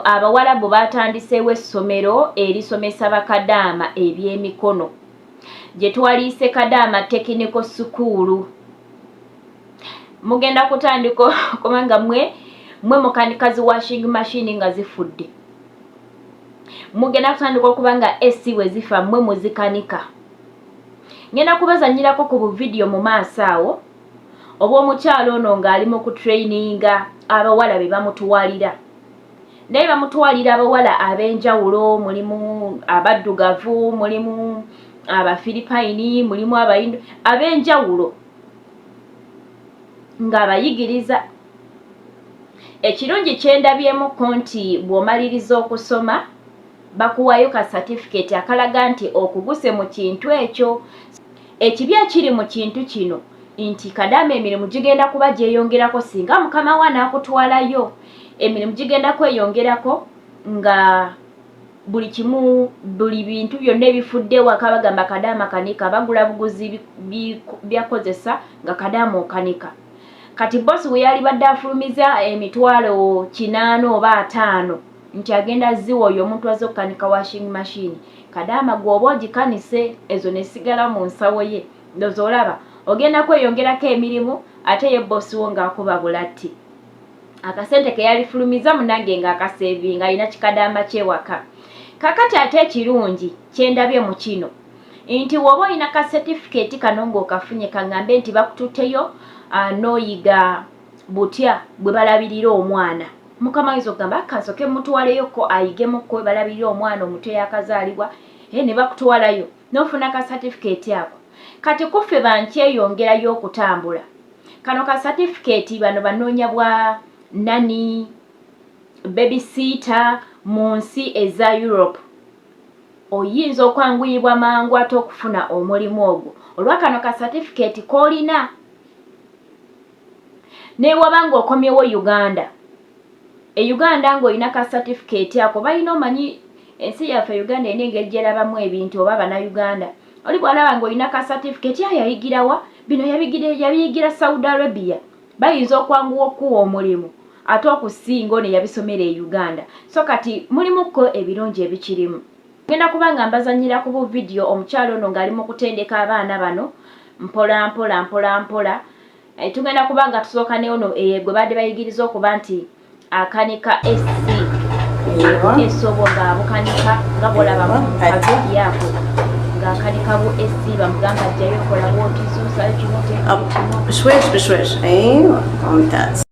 Abawalabu baatandiseewo essomero erisomesa bakadaama ebyemikono gye twaliyise Kadaama Tekiniko Sukuulu. Mugenda kutandika okuba nga mwe mwe mukanika zi washing machine nga zifudde. Mugenda kutandika okuba nga AC bwe zifa mwe muzikanika. Ngenda kubazanyirako ku buvidiyo mu maaso awo. oba omukyalo ono ng'ali mu kutrayininga abawala be bamutuwalira naye bamutwalira abawala ab'enjawulo mulimu abaddugavu mulimu abafiripayini mulimu abayindo ab'enjawulo ng'abayigiriza ekirungi kyendabyemukko nti bw'omaliriza okusoma bakuwayo ka satifiketi akalaga nti okuguse mu kintu ekyo Ekibi ekiri mu kintu kino nti kadaama emirimu gigenda kuba gyeyongerako singa mukama wo anaakutwalayo emirimu gigenda kweyongerako nga buli kimu buli bintu byonna ebifudde waka bagamba kadaama kanika bagula buguzi byakozesa nga kadaama okanika kati bosi we yali badde afulumiza emitwalo kinaana oba ataano nti agenda ziwa oyo omuntu azze okukanika washing machine Kadaama gwe oba ogikanise ezo nesigala mu nsawo ye ndoza olaba ogenda kweyongerako emirimu ate ye boss wo nga akuba bulatti akasente keyalifulumiza munange nga akasevinga alina kikadaama kyewaka kakati ate ekirungi kyendabye mu kino nti woba olina ka certificate kano nga okafunye kangambe nti bakututeyo uh, noyiga butya bwe balabirira omwana mukama ayinza okugamba akasoke mutwaleyo ko ayigemu ko balabirira omwana omuto yakazaalibwa e eh, ne bakutwalayo nofuna ka satifikeeti ako kati kuffe bankyeyongerayo okutambula kano ka satifikeeti bano banoonya bwa nani babysiita mu nsi eza europe oyinza okwanguyibwa mangu ate okufuna omulimu ogwo olwa kano ka satifikeeti koolina newaba nga okomyewo uganda e uganda nga olina ka certificate ako balina omanyi ensi yaffe uganda ena engeri gyerabamu ebintu oba bana uganda oli bwalaba nga olina ka certificate ya yayigirawa bino yabiyigira saudi arabia bayinza okwanguwa okukuwa omulimu ate okusinga ono yabisomera e uganda so kati mulimuko ebirungi ebikirimu Ngenda kuba nga mbazanyira ku bu vidiyo omukyalo ono ng'ali mu kutendeka abaana bano mpola mpola mpola mpola eh, tugenda kuba nga tusooka ne ono eh, gwe baadde bayigiriza okuba nti akanika esi esobo ng'abukanika nga bwolaba mukavidiyaako ng'akanika bu esi bamugamba jjayo kola bwotizuusayo kimoteekimoteswesbeswes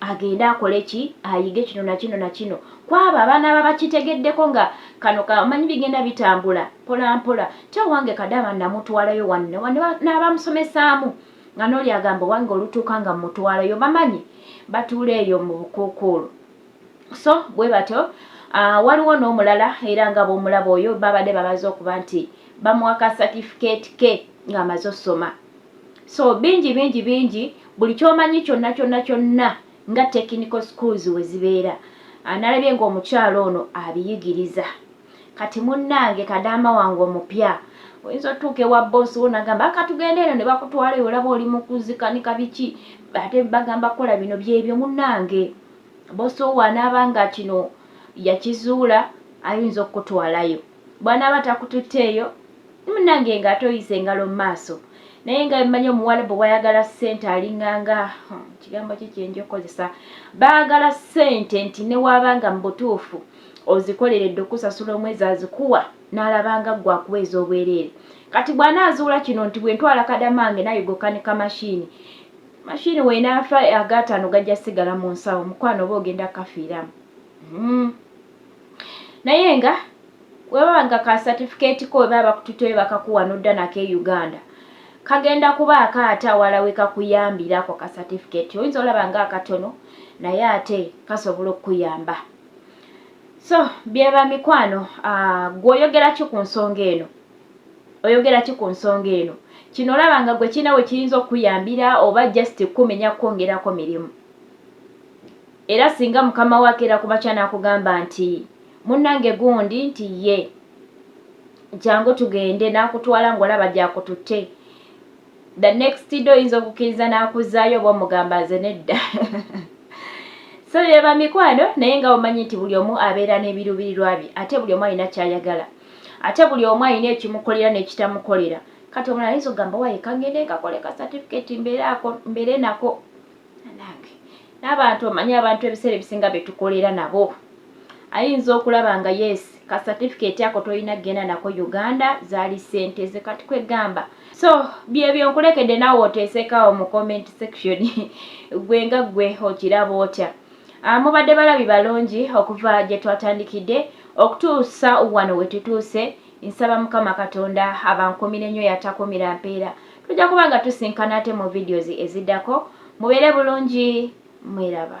agende akole ki ayige kino na kino na kino kwabo abaana aba bakitegeddeko nga kano kamanyi bigenda bitambula mpola mpola ti owange kadaama namutwalayo wanne wanne n'abamusomesaamu nga n'oli agamba owange olutuuka nga mutwalayo bamanyi batuula eyo mu bukuukuulu so bwe batyo ah, waliwo n'omulala era nga bw'omulaba oyo babadde babaza okuba nti bamuwa ka satifiketi ke ng'amaze osoma so bingi bingi bingi buli kyomanyi kyonna kyonna kyonna nga technical schools we zibeera analabye ng'omukyalo ono abiyigiriza kati munnange kadaama wange omupya oyinza otuuka ewa boosi wo nagamba akatugenda eno ne bakutwala eyo olaba oli mukuzikanika biki ate bagamba kukola bino byebyo munnange boosi wo waanaaba nga kino yakizuula ayinza okukutwalayo bwanaaba takututteeyo munange nga ate oyisa engalo mu maaso naye nga bemmanyi omuwalabu bwayagala ssente alinganga hmm, kigambo ki kyenja okukozesa baagala ssente nti newaaba nga mu butuufu ozikoleredde okusasula omwezi azikuwa n'alabanga ggwe akuweeza obwereere kati bw'anaazuula kino nti bwe ntwala kadamange naye gokanika mashiini mashiini weenaafa agaataano gajja sigala mu nsawo mukwano oba ogenda kafiiramu hmm. naye nga webaba nga ka certificate ko webaba bakututoye bakakuwa nodda nako e uganda kagenda kuba akaate awala wekakuyambira ako ka certificate oyinza olaba nga akatono naye ate kasobola okukuyamba so byeba mikwano ah, gwe oyogeraki ku nsonga eno oyogeraki ku nsonga eno kino olaba nga gwe kirina we kiyinza okukuyambira oba just kukumenya kukwongerako mirimu Era singa mukama wo akeera kumakya n'akugamba nti munnange gundi nti ye jangu tugende n'akutwala ng'olaba gyakututte the next day oyinza okukkiriza n'akuzaayo oba omugamba nze nedda so byeba mikwano naye nga omanyi nti buli omu abeera n'ebiruubirirwa bye ate buli omu alina kyayagala ate buli omu alina ekimukolera n'ekitamukolera kati omulala ayinza okugamba waye kangende nkakole ka certificate mbeere nako n'abantu omanyi abantu ebiseera ebisinga betukolera nabo ayinza okulaba nga yes ka certificate ako tolina genda nako uganda zaali sente ze kati kwegamba so byebyo nkulekedde nawe oteesekawo mu comment section gwe nga gwe okiraba otya ah, mubadde balabi balungi okuva gye twatandikidde okutuusa wano wetutuuse nsaba mukama katonda abankumire nnyo yatakumira mpeera tujja kuba nga tusinkana ate mu videos eziddako mubeere bulungi mweraba